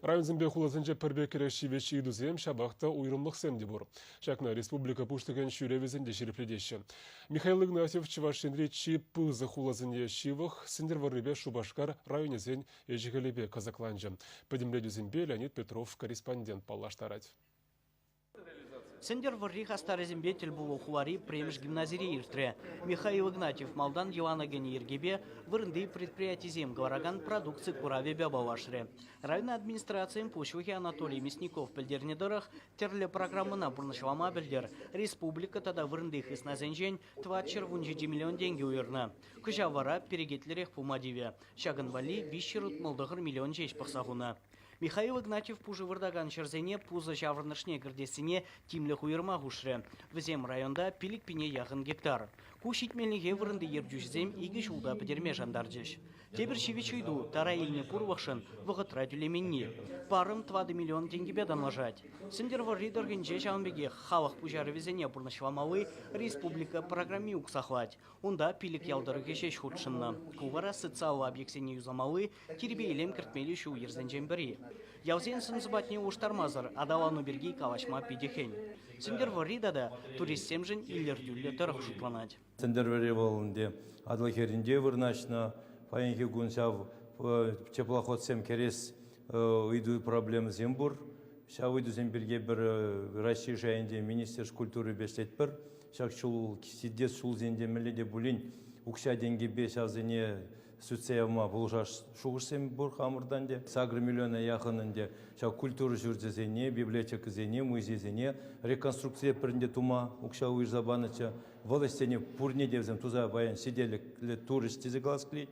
Районсемпе хуласенче пӗр пек кӗрешӳ ҫивӗч ыйтусем, ҫапах та уйрӑмлӑхсем те пур. Ҫакна республика Пуҫлӑхӗн ҫӳревӗсем те ҫирӗплетеҫҫӗ. Михаил Игнатьев Чӑваш Енри чи пысӑк хуласене ҫывӑх, Сӗнтӗрвӑррипе Шупашкар районӗсен ӗҫӗ-хӗлӗпе кӑсӑкланчӗ. Пӗтӗмлетӳсемпе Леонид Петров корреспондент паллаштарать. Сӗнтӗрвӑрри хастарӗсемпе тӗл пулу хулари пӗрремӗш гимназире иртрӗ. Михаил Игнатьев малтан йӑлана кӗнӗ йӗркепе вырӑнти предприятисем кӑларакан продукци куравӗпе паллашрӗ. Район администрацийӗн пуҫлӑхӗ Анатолий Мясников пӗлтернӗ тӑрӑх, тӗрлӗ программӑна пурнӑҫлама пӗлтӗр республика тата вырӑнти хыснасенчен тӑват ҫӗр вун ҫичӗ миллион тенкӗ уйӑрнӑ. Кӑҫал вара перекетлӗрех пыма тивӗ. Ҫакӑн валли виҫҫӗр утмӑл тӑхӑр миллион ҫеҫ пӑхса хунӑ. Михаил Игнатьев пушӑ выртакан ҫӗрсене пусӑ ҫаврӑнӑшне кӗртессине тимлӗх уйӑрма хушрӗ. Вӗсем районта пилӗк-пине яхӑн гектар. Ку ҫитменлӗхе вырӑнти ертӳҫӗсем икӗ ҫулта пӗтерме шантарчӗҫ. Тепӗр ҫивӗч ыйту тара илнӗ пурлӑхшӑн вӑхӑтра тӳлеменни. Парӑм тӑватӑ миллион тенкӗпе танлашать. Сӗнтӗрвӑрри тӑрӑхӗнче ҫавӑн пекех халӑх пуҫарӑвӗсене пурнӑҫламалли республика программи уксахлать. Унта пилӗк ял тӑрӑхӗ ҫеҫ хутшӑннӑ. Ку вара социаллӑ объектсене юсамалли тирпей-илем кӗртмелли ҫул-йӗрсенчен пӗри. Ялсен сӑн-сӑпатне улӑштармасӑр аталану пирки калаҫма питӗ хӗн. Сӗнтӗрвӑрри тата туристсемшӗн илӗртӳллӗ тӑрӑх шутланать. Сӗнтӗрвӑрри вӑл ӗнтӗ Атӑл хӗрринче вырнаҫнӑ. Паянхи кун ҫав теплоходсем кӗрес ыйту проблемӑсем пур. Ҫав ыйтусем пирки пӗр Раҫҫей шайӗнче Министерство культурипе ӗҫлетпӗр. Ҫак ҫул, ҫитес ҫулсенче мӗнле те пулин укҫа-тенкӗпе ҫавсене сӳтсе явма пулӑшас шухӑшсем пур хамӑртан те. Сакӑр миллиона яхӑн ӗнтӗ ҫав культура ҫурчӗсене, библиотекӑсене, музейсене реконструкцие пӗринте тума укҫа уйӑрса панӑччӗ. Вӑл ӗҫсене пурне те вӗсем туса паян ҫителӗклӗ турӗҫ тесе калас килет.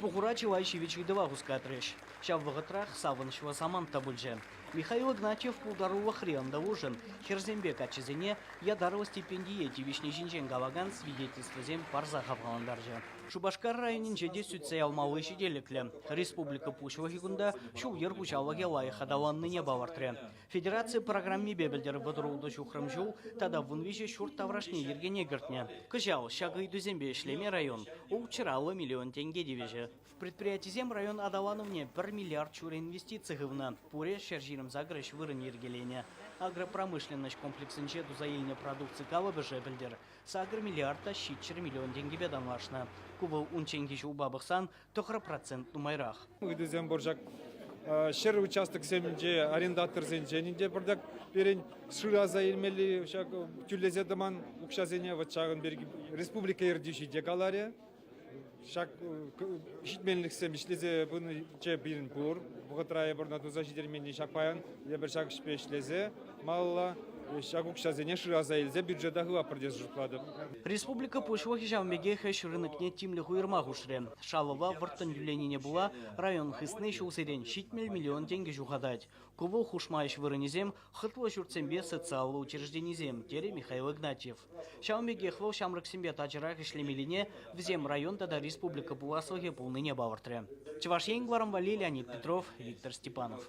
Пухура чылай ҫивӗч ыйтӑва хускатрӗҫ. Ҫав вӑхӑтрах савӑнӑҫлӑ самант та пулчӗ. Михаил Игнатьев пултарулӑхри ӑнтӑлушӑн хӗрсемпе каччӑсене ятарлӑ стипендие тивӗҫни ҫинчен калакан свидетельствӑсем парса хавхалантарчӗ. Шупашкар районӗнче те сӳтсе явмалли ҫителӗклӗ. Республика Пуҫлӑхӗ кунта ҫул-йӗр хуҫалӑхӗ лайӑх аталаннине палӑртрӗ. Федераци программипе пӗлтӗр вӑтӑрултӑ ҫухрӑм ҫул тата вун виҫӗ ҫурт таврашне йӗркене кӗртнӗ. Кӑҫал ҫак ыйтусемпе ӗҫлеме район ултҫӑраллӑ миллион тенке тивӗҫӗ. Предприятисем район аталанӑвне пӗр миллиард ҫур инвестици хывнӑ. Пурӗ ҫӗр ҫирӗм сакӑрӗҫ вырӑн йӗркеленӗ. Агропромышленноҫ комплексӗнче туса илнӗ продукци калӑпӑшӗ пӗлтӗр Сакӑр миллиард та ҫичҫӗр миллион тенкӗпе танлашнӑ. Ку вӑл унчченхи ҫулпа пӑхсан тӑхӑр процент нумайрах. Ыйтусем пур ҫак ҫӗр участоксенче, арендаторсенчен те пӗртак пирӗн шыраса илмелли ҫак тӳлесе тӑман укҫасене вӑт ҫакӑн пирки республика ертӳҫи те каларӗ. Ҫак ҫитменлӗхсем ӗҫлесе пынинче пирӗн пур. Вӑхӑтра эпир ӑна туса ҫитерменни ҫак паян эпир ҫак ӗҫпе ӗҫлесе малалла ҫак укҫасене шыраса илсе бюджета хыватпӑр тесе шутлатӑп. Республика Пуҫлӑхӗ ҫавӑн пекех ӗҫ рынокне тимлӗх уйӑрма хушрӗ. Шалӑва вӑрттӑн тӳленине пула район хысни ҫулсерен ҫитмӗл миллион тенкӗ ҫухатать. Ку вӑл хушма ӗҫ вырӑнӗсем хӑтлӑ ҫуртсемпе социаллӑ учрежденисем, терӗ Михаил Игнатьев. Ҫавӑн пекех вӑл ҫамрӑксемпе тачӑрах ӗҫлемеллине, вӗсем район тата республика пуласлӑхӗ пулнине палӑртрӗ. Чӑваш Ен, кӑларӑм валли Леонид Петров, Виктор Степанов.